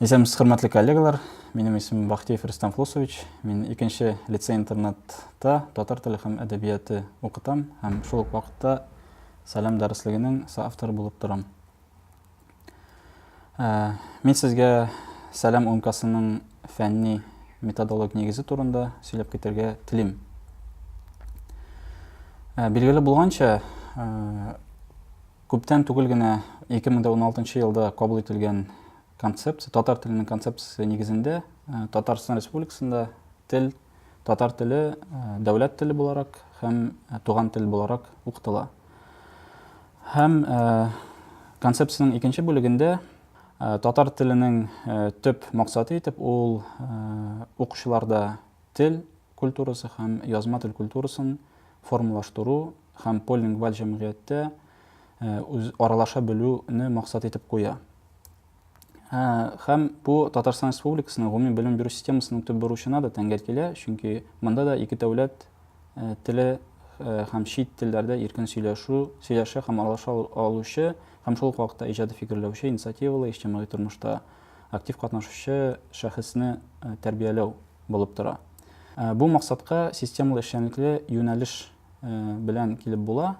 Исәнмесез, хөрмәтле коллегалар. Минем исемем Бахтиев Рустам Флусович. Мин икенче лицей-интернатта татар теле һәм әдәбияты укытам һәм шул ук вакытта Сәлам дәреслегенең соавторы булып торам. Мин сезгә Сәлам умкасының фәнни методолог нигезе турында сөйләп китәргә телим. Билгеле булганча, күптән түгел генә 2016 елда кабул ителгән концепция, татар теленең концепциясе нигезендә Татарстан Республикасында тел Татар теле дәүләт теле буларак һәм туган тел буларак укытыла. Һәм концепцияның икенче бүлегендә татар теленең төп максаты итеп ул укучыларда тел культурасы һәм язма тел культурасын формалаштыру һәм полилингваль җәмгыятьтә э, аралаша белүне максат итеп куя. Һәм бу Татарстан Республикасының гомуми белем бирү системасының төп бурычына да тәңгәл килә, чөнки монда да ике дәүләт э, теле э, һәм чит телләрдә иркен сөйләшү, сөйләшә һәм аралаша алучы һәм шул ук вакытта иҗади фикерләүче, инициативалы, иҗтимагый тормышта актив катнашучы шәхесне э, тәрбияләү булып тора. Бу максатка системалы эшчәнлекле юнәлеш белән килеп була.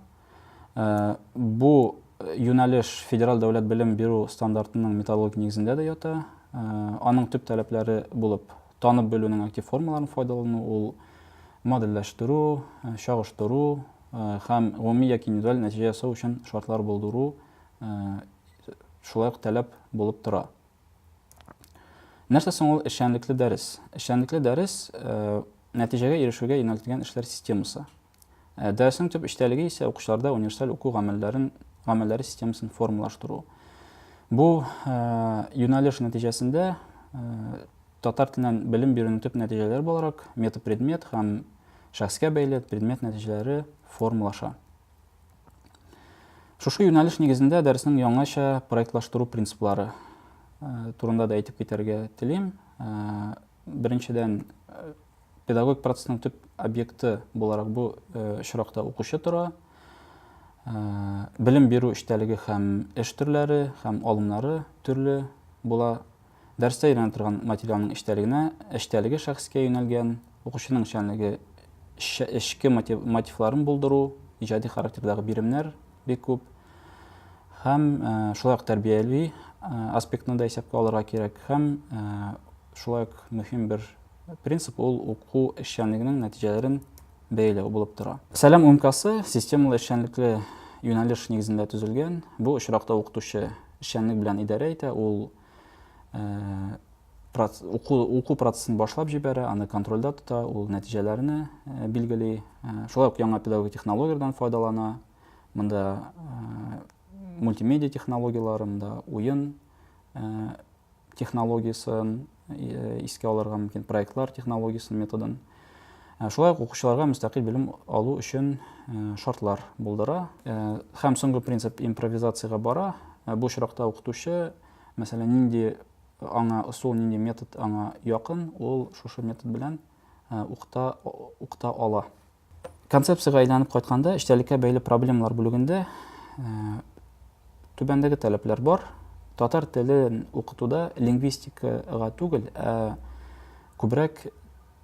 Бу юнәлеш федераль дәүләт белем бирү стандартының методологик нигезендә дә ята. Аның төп таләпләре булып танып белүнең актив формаларын файдалану, ул модельләштерү, чагыштыру һәм гомуми яки индивидуаль нәтиҗә ясау өчен шартлар булдыру шулай ук таләп булып тора. Нәрсә соң ул эшчәнлекле дәрес? Эшчәнлекле дәрес нәтиҗәгә ирешүгә юнәлтелгән эшләр системасы. Ә дәресенең төп эчтәлеге исә укучыларда универсаль уку гамәлләрен, гамәлләре системасын формалаштыру. Бу ә, юнәлеш нәтиҗәсендә ә, татар теленнән белем бирүнең төп нәтиҗәләре буларак метапредмет һәм шәхескә бәйле предмет нәтиҗәләре формалаша. Шушы юнәлеш нигезендә дәресенең яңача проектлаштыру принциплары э, турында да әйтеп китәргә телим. Э, беренчедән, э, Педагогик процессның төп объекты буларак бу очракта укучы тора. Белем бирү эчтәлеге һәм эш төрләре һәм алымнары төрле була. Дәрестә өйрәнә торган материалның эчтәлегенә, эчтәлеге шәхескә юнәлгән, укучының эшчәнлеге эчке мотивларын булдыру, иҗади характердагы биремнәр бик күп. Һәм шулай ук тәрбияви аспектны да исәпкә алырга кирәк. Һәм шулай ук мөһим бер Принцип ул уку эшчәнлегенең нәтиҗәләрен бәяләү булып тора. Сәлам умкасы системалы эшчәнлекле юнәлеш нигезендә төзелгән. Бу очракта укытучы эшчәнлек белән идарә итә, ул э, уку, уку процессын башлап җибәрә, аны контрольдә тота, ул нәтиҗәләрне э, билгели. Э, шулай ук яңа педагогик технологияләрдән файдалана. Монда мультимедиа технологияләре, монда уен технологиясен искә алырга мөмкин, проектлар технологиясен, методын. Шулай ук укучыларга мөстәкыйль белем алу өчен шартлар булдыра. Һәм соңгы принцип импровизациягә бара. Бу очракта укытучы, мәсәлән, нинди аңа ысул, нинди метод аңа якын, ул шушы метод белән укыта ала. Концепциягә әйләнеп кайтканда, эчтәлеккә бәйле проблемалар бүлегендә түбәндәге таләпләр бар. Татар телен укытуда лингвистикага түгел, ә күбрәк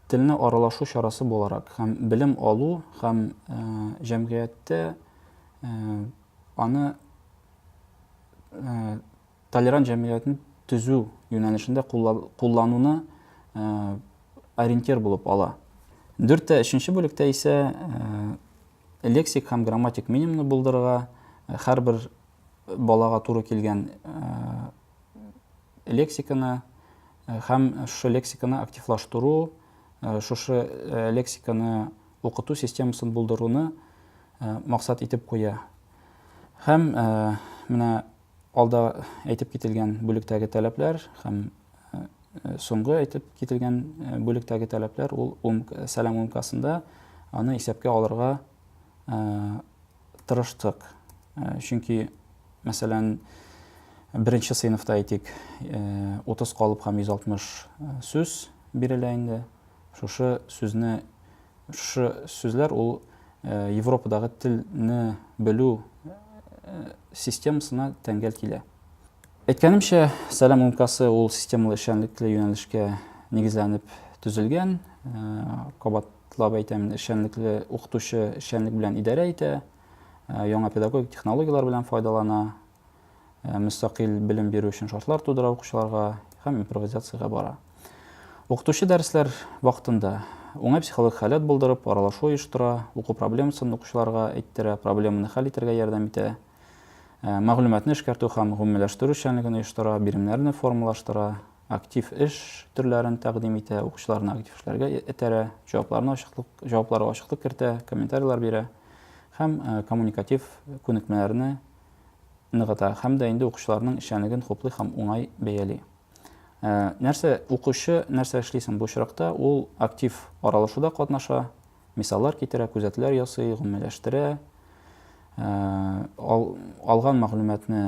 телне аралашу чарасы буларак һәм белем алу һәм э, җәмгыятьтә э, аны э, Толерант җәмгыятен төзү юнәлешендә куллануны ориентир булып ала. Дүрттә өченче бүлектә исә лексик һәм грамматик минимумны булдырырга, һәрбер балага туры килгән лексиканы һәм шушы лексиканы активлаштыру, шушы лексиканы укыту системасын булдыруны максат итеп куя. Һәм менә Алда әйтеп кителгән бүлектәге таләпләр һәм соңгы әйтеп кителгән бүлектәге таләпләр ул ум, сәлам умкасында аны исәпкә алырга тырыштык. Чөнки, мәсәлән, беренче сыйныфта әйтик, 30 калып һәм 160 сүз бирелә инде. Шушы сүзне Шушы сүзләр ул Европадагы телне белү системасына тәңгәл килә. Әйткәнемчә, Сәлам умкасы ул системалы эшчәнлекле юнәлешкә нигезләнеп төзелгән. Кабатлап әйтәмен, эшчәнлекле укытучы эшчәнлек белән идарә итә, яңа педагогик технологияләр белән файдалана, мөстәкыйль белем бирү өчен шартлар тудыра укучыларга һәм импровизациягә бара. Укытучы дәресләр вакытында уңай психологик халәт булдырып, аралашу оештыра, уку проблемасын укучыларга әйттерә, проблеманы хәл итәргә ярдәм итә, э, мәгълүматны эшкәртү һәм гомумиләштерү эшчәнлеген оештыра, биремнәрне формалаштыра, актив эш төрләрен тәкъдим итә, укучыларны актив эшләргә этәрә, җавапларны ачыклык, җавапларга ачыклык кертә, комментарийлар бирә һәм э, коммуникатив күнекмәләрне ныгыта һәм дә инде укучыларның эшчәнлеген хуплый һәм уңай бәяли. Ә, нәрсә укучы нәрсә эшли соң бу очракта? Ул актив аралашуда катнаша, мисаллар китерә, күзәтүләр ясый, гомумиләштерә, ә, ал, алган мәгълүматны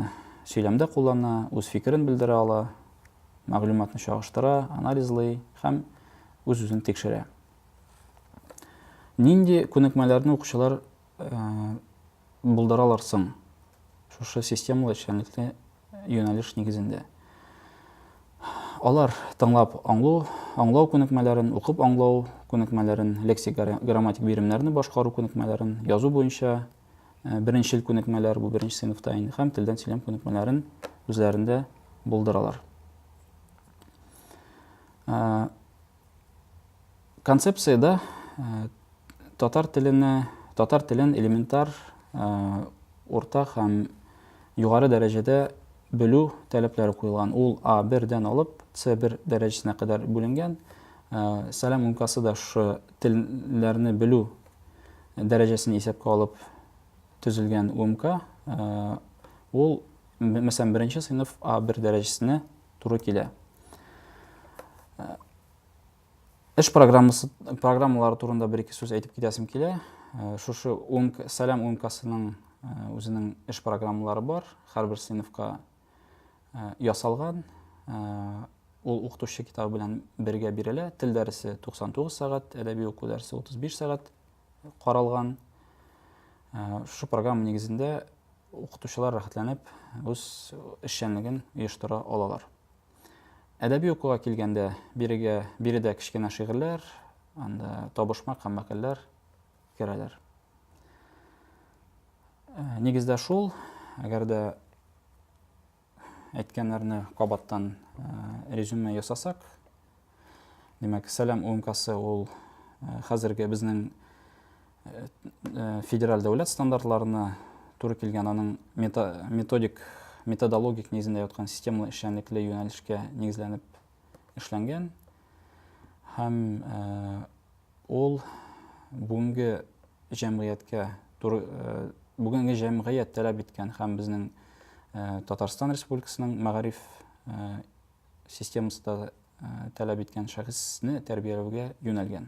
сөйләмдә куллана, үз фикерен белдерә ала, мәгълүматны чагыштыра, анализлый һәм үз-үзен тикшерә. Нинди күнекмәләрне укучылар булдыралар соң шушы системалы эшчәнлекне юнәлеш нигезендә? Алар тыңлап аңлу, аңлау күнекмәләрен, укып аңлау күнекмәләрен, лексик грамматик биремнәрне башкару күнекмәләрен, язу буенча беренчел күнекмәләр, бу беренче сыйныфта инде, һәм телдән сөйләм күнекмәләрен үзләрендә булдыралар. Концепциядә татар теленә, татар телен элементар урта һәм югары дәрәҗәдә белү таләпләре куелган. Ул А1 дән алып С1 дәрәҗәсенә кадәр бүленгән. Сәлам умкасы да шушы телләрне белү дәрәҗәсен исәпкә алып төзелгән умка. Ул, мәсәлән, беренче сыйныф А1 дәрәҗәсенә туры килә. Э, эш программасы, программалары турында бер ике сүз әйтеп китәсем килә. Э, шушы УМК, Сәләм УМКасының э, үзенең эш программалары бар. Һәрбер сыйныфка ясалган. Ул укытучы китабы белән бергә бирелә. Тел дәресе 99 сәгать, әдәби уку дәресе 35 сәгать. каралган. Шушы программа нигезендә укытучылар рәхәтләнеп үз эшчәнлеген оештыра алалар. Әдәби укуга килгәндә, бирегә биредә кечкенә шигырьләр, анда табышмак һәм мәкальләр керәләр. Нигездә шул, әгәр дә әйткәннәрне кабаттан резюме ясасак, димәк, Сәлам УМКасы ул хәзерге безнең федераль дәүләт стандартларына туры килгән, аның методик, методологик нигезендә яткан системалы эшчәнлекле юнәлешкә нигезләнеп эшләнгән һәм ул бүгенге җәмгыятькә бүгенге җәмгыять таләп иткән һәм безнең Татарстан Республикасының мәгариф системасында таләп иткән шәхесне тәрбияләүгә юнәлгән.